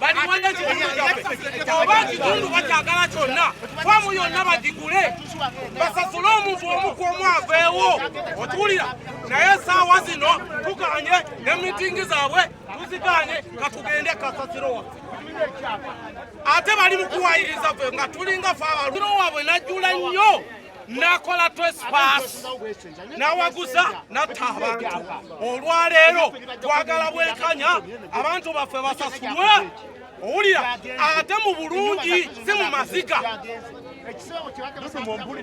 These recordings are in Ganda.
baliwanda kitundu kyabwe oba kitundu bakyagala kyonna famu yonna bagigule basasule omuntu omuku omu aveewo otuwulira naye esaawa zino tukanye ne mitingi zaabwe tuziganye katugende kasasiro waffe ate bali mukuwayiriza fe nga tulinga fe abaliro wabwe najjula nnyo nakola twespaasi nawaguza natta abantu olwaleero twagala bwenkanya abantu baffe basasulwe owulira ate mu bulungi si mu maziga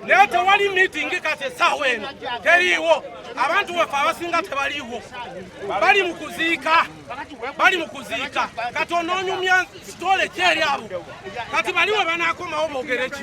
naye tewali miitingi kati essaawa eno teriiwo abantu baffe abasinga tebaliiwo bali mu kuziika bali mu kuziika kati onoonyumya sitole kyeri abo kati baliwe banaakomawo boogereki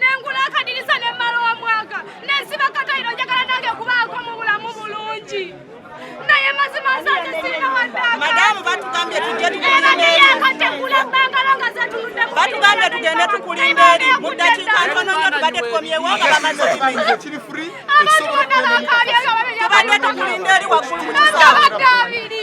nengula akadirisa nemmala omwaka nensiba katayiro njagala nange kubaako mu bulamu bulungi naye mazima nsanze sirina waddaamadamu batugambye tujje tukulindeeriakategula bangalo nga zetunudde batugambye tugende tukulinda eri mu ddakiika ntono nyo tubadde tukomyewo nga bamaze abantu bonna bakaabye nga babeyatubadde tukulinda eri waggulu mu kisaabiri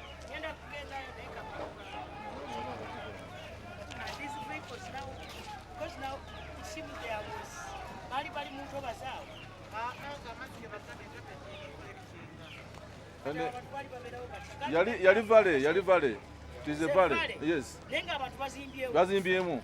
yali vale yali vale tize vale yes bazimbyemu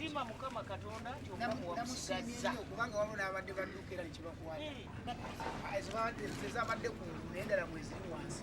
siima mukama katonda nti omulamu wamusigazza kubanga waliwo n'abadde badduka era nekibakwata eh. ezabadde ku naye endala mweziri wansi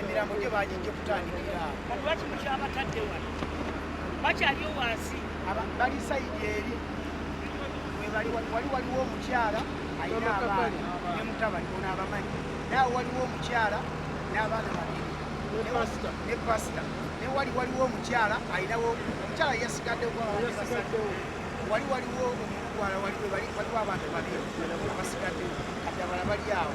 emirambo gyo bagijja okutandikira kati lwaki mukyabatadde wano bakyaliyo wansi bali sayidi eri webali wali waliwo omukyala alina abaana ne mutabani ono abamanyi nawe waliwo omukyala n'abaana babiri ne pasita ne wali waliwo omukyala alinawo omukyala yasigaddewo wali waliwo omugwala waliwo waliwo abantu babiri abasigadde kati abala bali awo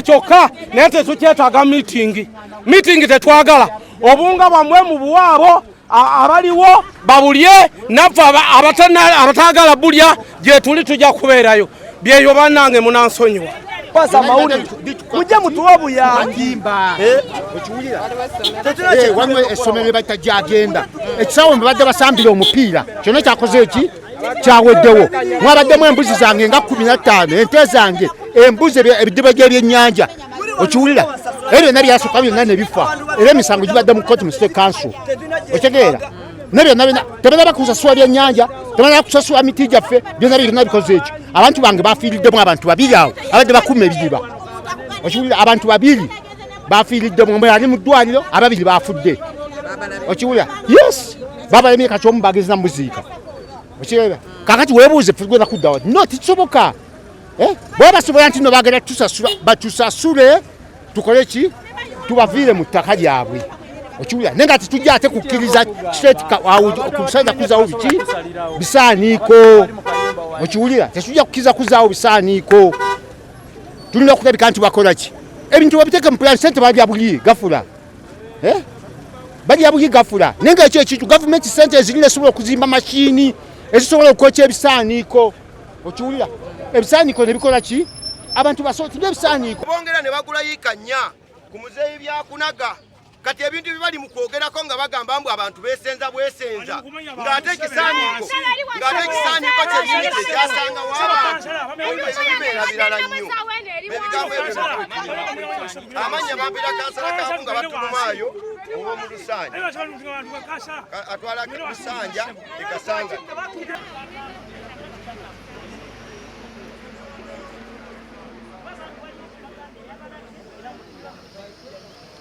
kyokka naye tetukyetaaga miitingi miitingi tetwagala obunga bwamwe mu buwaabo abaliwo babulye naffe abataagala bulya gyetuli tujja kubeerayo byeyo banange munansonyiwa pasa mawulire mujje mutuwe obuyambi eh? eh, waliwo essomero lye bayita gyagenda ekisawo mwe badde basambira omupiira kyona kyakoze eki kyaweddewo mwabaddemu embuzi zange nga kumi na ttaano ente zange embuzi ebidiba gy'ebyennyanja okiwulira ebyo byonna byasooka byonna ne bifa era emisango gibadde mu kooti mu state council okitegeera nebyonna byonna tebanaba kusasula byennyanja tebanaba kusasula miti gyaffe byonna byonna bikoze ekyo abantu bange bafiiriddemu abantu babiri awo abadde bakuuma ebidiba okiwulira abantu babiri bafiiridde mu yali mu ddwaliro ababiri bafudde okiwulira yes babalemye kati omu bagezi namuziika okirera kakati webuuze fegwena kuddawa no tikisoboka eh? bwe basobola nti no bagenda tusasula batusasule tukole ki tubaviire mu ttaka lyabwe okiwulira naye nga tetujja ate kukkiriza kiseetikusaza kuzaawo biki bisaaniiko okiwulira tetujja kukkiriza kuzaawo bisaaniiko tulina kutabika nti bakola ki ebintu babiteeka mu pulaani sente balya buyi gafula eh? balya buyi gafula naye nga ekyo ekintu gavumenti sente ezirina esobola okuzimba mashini ezisobola okwokya ebisaaniiko okiwulira ebisaaniiko nebikola ki abantu basooti nebisaaniiko bongera ne bagula yiika nnya ku muzeeyi byakunaga kati ebintu bibali mu kwogerako nga bagamba mbu abantu besenza bwesenza ng'ate ekisaaniiko ng'ate ekisaaniiko kyenyini kye kyasanga w'abantu olwo ebibeera birala nnyo ebigambo ebyo amannya bampira kansala kaamu nga batulumaayo ow'omu lusanja atwala lusanja ekasanga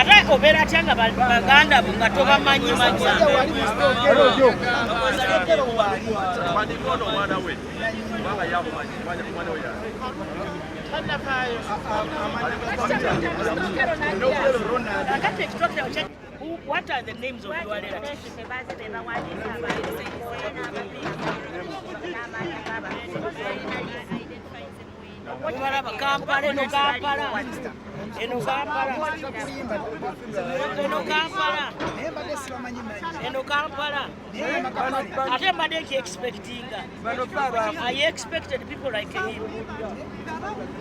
ate obeera atya nga baganda bo nga tobamanyi manyi What are the names of your relatives? Obalaba Kampala eno Kampala eno Kampala eno Kampala eno Kampala ate mbadde nki expectinga I expected people like him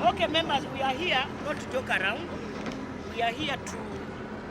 okay members we are here not to joke around we are here to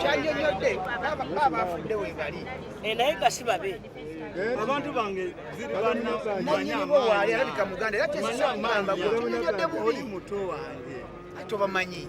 kyanyonyodde baaba afudde webali eh, naye nga si babe eh? abantu bange ziribananyinibowaali alabika muganda era tezisamugamba oli muto wange ate obamanyi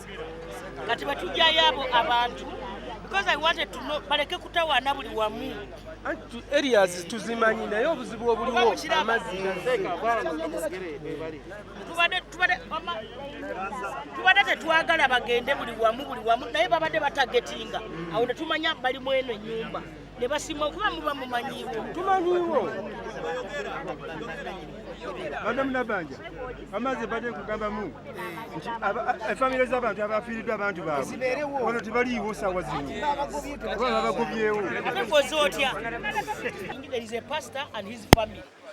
kati batujjayo abo abantu because I wanted to know baleke kutawaana buli wamu anti areas tuzimanyi naye obuzibu obuliwo amazzi tubadde tetwagala bagende buli wamu buli wamu naye babadde batagetinga awo netumanya bali mweno enyumba ne basima okuba muba mumanyiwo tumanyiwo madamu nabanja amazzi badde nkugambamu nti efamire z'abantu abafiiriddwa abantu baabwe wano tebaliiwo saawa zino oba babagobyewo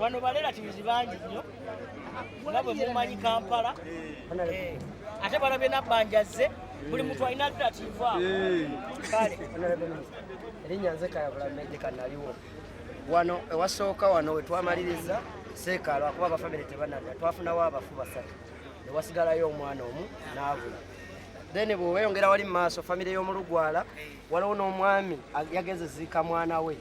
wano balelativizi bangi nnyo nga bwe mumanyi kampala eh, ate balabye nabbanja zze buli muntu alina relativu awo eh. kale erinnya nze kayabulameje kanaliwo wano ewasooka wano wetwamaliriza seekaalo akuba abafamire tebanada twafunawo abafu basatu newasigalayo omwana omu naabula then bweweyongera wali mu maaso famire y'omulugwala waliwo n'omwami yagenze ziika mwana we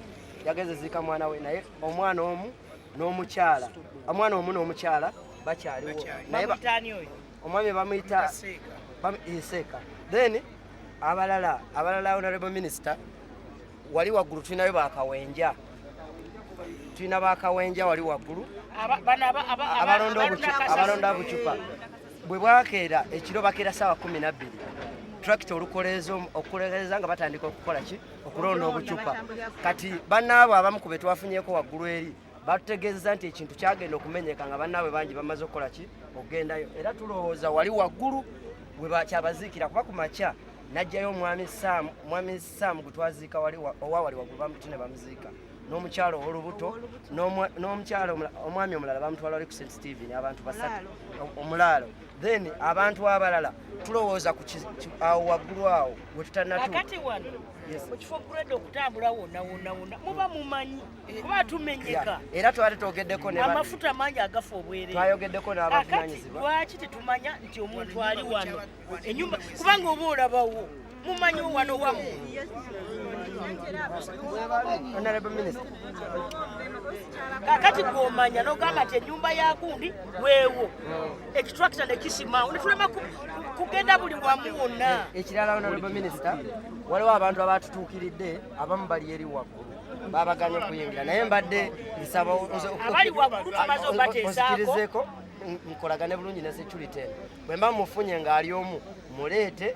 yageze ziika mwana we naye omwana omu n'omukyala omwana omu n'omukyala bakyaliwo naye omwami bamuyita nseeka then abalala abalala honorable minister wali waggulu tulinayo bakawenja tulina bakawenja wali waggulu abalonda bucupa bwe bwakeera ekiro bakeera saawa kumi nabbiri trakita olukoleeza okukoleeza nga batandika okukola ki okulonda obucupa kati bannaabo abamu ku be twafunyeko waggulu eri batutegeezeza nti ekintu kyagenda okumenyeka nga bannaabwe bangi bamaze okukola ki okugendayo era tulowooza wali waggulu wekyabaziikira kuba ku makya najjayo omwami saamu omwami saamu gwe twaziika wali owa wali waggulu bamuti ne bamuziika n'omukyalo ow'olubuto n'omukyalo omwami omulala bamutwala wali ku st steven abantu basatu omulaalo then abantu abalala tulowooza ku awo waggulu awo wetutanakati wano mu kifo grade okutambula wona wona wona muba mumanyi eh, kuba tumenyeka era twali twogeddeko amafuta mangi agafa obwerere twayogeddeko n'abavunanyizibwa lwaki tetumanya nti omuntu ali wano enyumba kubanga oba olabawo mumanyi wano wamu kakati gwomanya nogamba nti enyumba yakundi weewo ekitrakita nekisimawo netulema kugenda buli wamu wonna ekirala honorable minister waliwo abantu abatutuukiridde abamu bali eri waggulu babaganye okuyingira naye mbadde nsaba nzikirizeeko nkolagane bulungi ne security eno bwe mba mufunye ng'ali omu muleete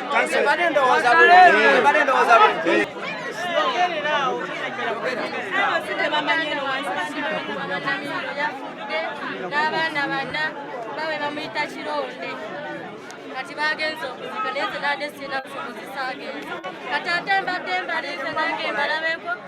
n'abaana bana bawe bamuyita kironde kati bagenze okuzika naye zenade sirina busobozi saagenze kati ate mbadde mbalize nange mbalabeko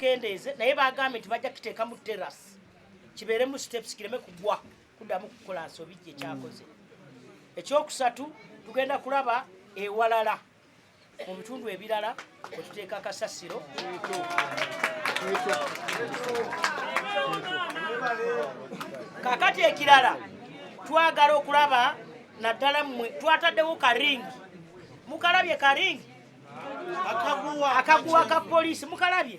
kendeeze naye bagambye nti bajja kiteeka mu teras kibeeremu steps kireme kugwa kuddamu kukola nsobi gye kyakoze ekyokusatu tugenda kulaba ewalala mu bitundu ebirala kwe tuteeka kasasiro kakati ekirala twagala okulaba naddala mmwe twataddewo karingi mukalabye karingi akaguwa ka poliisi mukalabye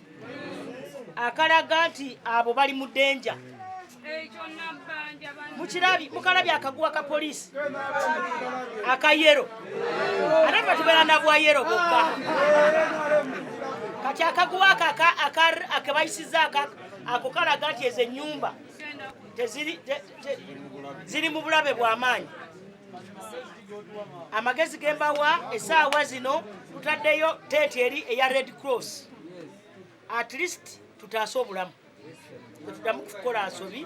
akalaga nti abo bali mu denja mukirabi mukalabi akaguwa ka polisi akayero ate fe tubeera nabwayero bokka kati akaguwa ako akebayisiza ako kalaga nti ezo enyumba ziri mu bulabe bwamaanyi amagezi gembawa esaawa zino tutaddeyo teeti eri eya red cross at least tutaase obulamu tetuddamu kukola nsobi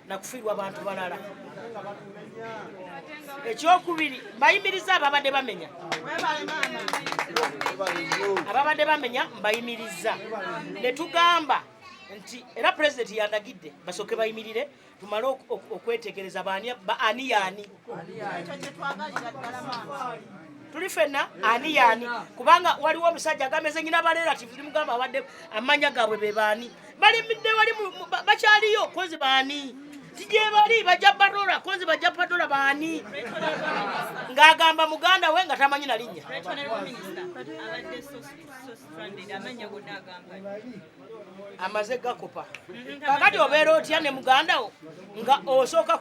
nakufiirwa bantu balala ekyokubiri mbayimiriza ababadde bamenya ababadde bamenya mbayimiriza netugamba nti era pulezidenti yandagidde basooke bayimirire tumale okwetegereza ani yaani tuli fenna ani yaani kubanga waliwo omusajja agameze nyina barelative limugamba abadde amanya gaabwe be baani balimidde wali bakyaliyo kozi baani tijebali bajja badola kozi bajja badola baani ng'agamba muganda we nga tamanyi na linnya amaze gakopa kakati obeera otya ne muganda wo nga osooka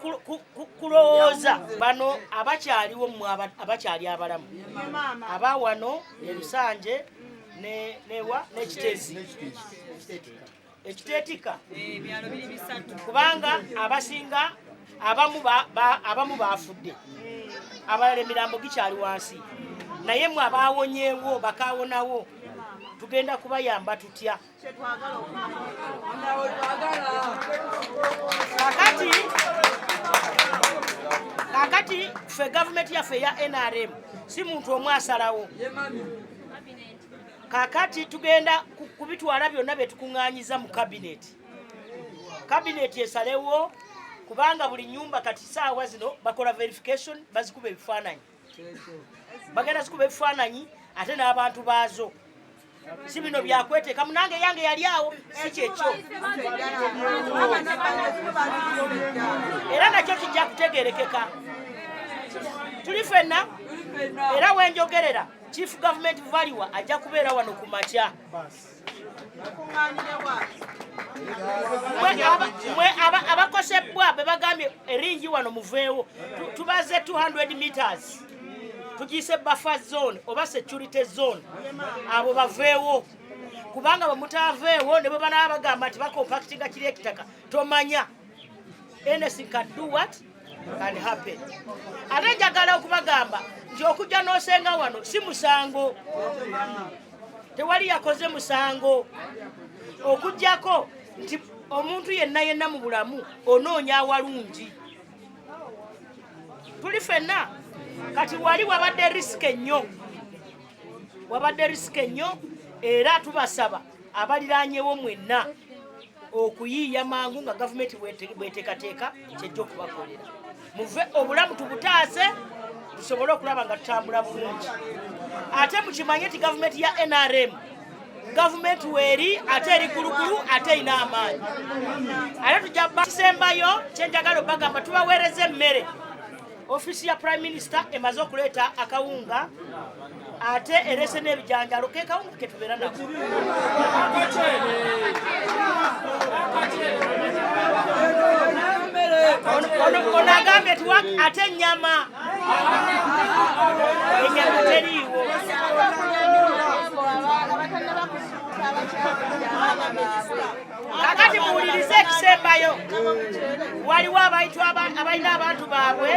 kulowooza bano abakyaliwo mu abakyali abalamu aba wano elusanje newa nekitezi ekiteetika eh, kubanga abasinga abamu abamu baafudde abalala emirambo gikyali wansi naye mwe abaawonyeewo bakaawonawo tugenda kubayamba tutya kakati kakati ffe gavumenti yaffe eya nrm si muntu omu asalawo kakati tugenda kubitwala byonna byetukuŋŋanyiza mu kabineti kabineeti esalewo kubanga buli nyumba kati saawa zino bakola verification bazikuba ebifaananyi bagenda zikuba ebifaananyi ate n'abantu baazo si bino byakweteka munange yange yali awo si kyekyo era nakyo kijja kutegerekeka tuli fenna era wenjogerera chief government valiwa ajja kubeera wano ku makya mwe abakosebbwa be bagambye eringi wano muveewo tubaze 200 meters tugiyise buffer zone oba security zone abo baveewo kubanga bwemutaaveewo ne bwe banaba bagamba nti bakompactinga kiri ekitaka tomanya anything can do what ate njagala okubagamba nti okujja n'osenga wano si musango tewali yakoze musango okugyako nti omuntu yenna yenna mu bulamu onoonya awalungi tuli fenna kati wali wabadde risike nnyo wabadde risike nnyo era tubasaba abaliranyewo mwenna okuyiiya mangu nga gavumenti bwetekateeka kyejja okubakolera muve obulamu tubutaase tusobole okulaba nga tutambula bulungi ate mukimanye nti gavumenti ya nrm gavumenti weeri ate eri kulukulu ate erina amaanyi ate tujja kisembayo kyenjagala obagamba tubaweereza emmere Ofiisi ya Prime Minister emaze okuleeta akawunga ate erese n'ebijanjalo ke kawunga ke tubeera nako ono agambye ti ate ennyama ennyama teriiwo kakati muwulirize ekisembayo waliwo abantu abalina abantu baabwe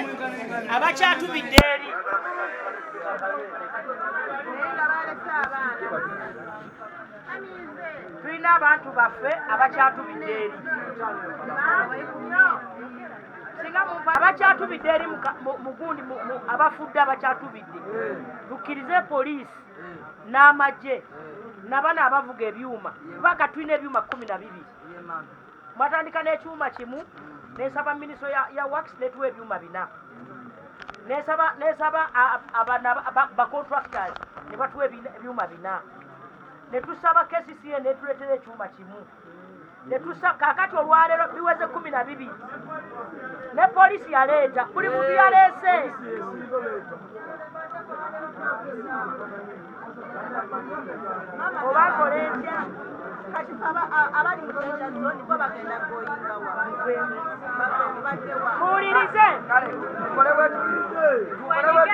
abakyatumidde eri tulina abantu baffe abakyatubidde eri abakyatubidde eri mugundi abafudde abakyatubidde tukkirize poliisi n'amagye nabana abavuga ebyuma kuba ka tulina ebyuma kumi na bibiri mwatandika n'ekyuma kimu nesaba minisitule ya wax netuwa ebyuma bina nesaba nesaba bacontractors ne batuwa ebyuma bina ne tusaba kcca netuleetera ekyuma kimu netusa kakati olwaleero biweze kumi na bibiri ne polisi yaleeta buli muntu yaleese obakola etya kati abali muloja zoni bo bagenda goyinga wabadewa muwulirize tukolebwe tuti tukolebwe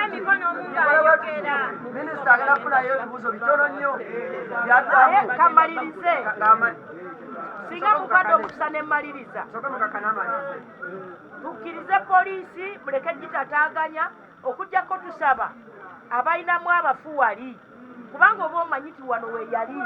tuti Minisita agenda kufunayo ebibuuzo bitono nnyo byaddamu. Kamalirize. Singa mukwata omukisa ne mmaliriza. Soka mukakana amalirize. Tukkirize poliisi muleke gitataaganya okujjako tusaba abalinamu abafu wali kubanga oba omanyi wano weyali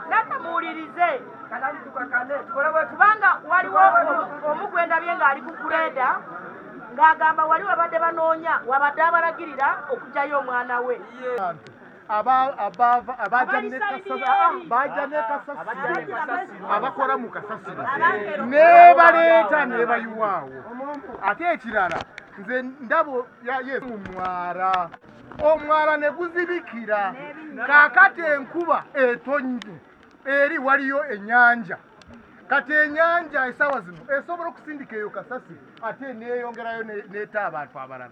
natamuwulirize kubanga waliwo omu gwendabye ng'ali ku kureda ng'agamba wali wabadde banoonya wabadde abalagirira okujayo omwana we abaaja ne kasasiro abakola mu kasasiro nebaleeta nebayiwaawo ate ekirala nze ndabo yesu mwara omwala ne guzibikira kaakati enkuba etonnye eri waliyo ennyanja kati ennyanja esaawa zino esobola okusindika eyo kasasi ate neeyongerayo neeta abantu abalala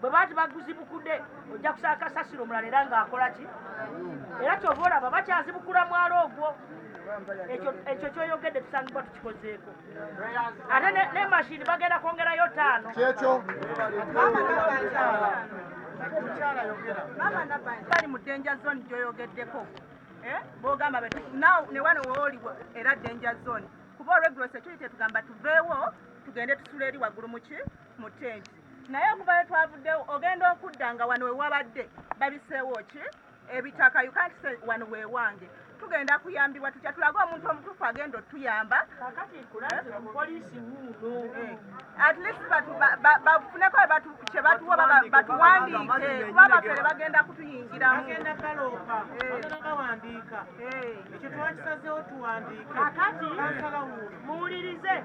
bwe baati baguzibukude ojja kusaba kasasiro omulala era ng'akola ki era kyova olaba bakyazibukula mwalo ogwo ekyo kyoyogedde tusangibwa tukikozeeko ate ne mashini bagenda kwongerayo taano kyekyo bali mu danger zone gyoyogeddeko eh? bogamba newano wooli era danger zone kuba olwegulo security tugamba tuveewo tugende tusula eri waggulu muki mu tenti naye okuva we twavuddewo ogenda okudda nga wano we wabadde babiseewo ki ebitaka yukantise wano we wange tugenda kuyambibwa tutya tulage omuntu omutuufu agenda otuyamba eh. at least bafuneko kyebatuwa batuwandiike kuba bafere bagenda kutuyingiramu eh. eh. ekyo twakisazewo tuwandiike muwulirize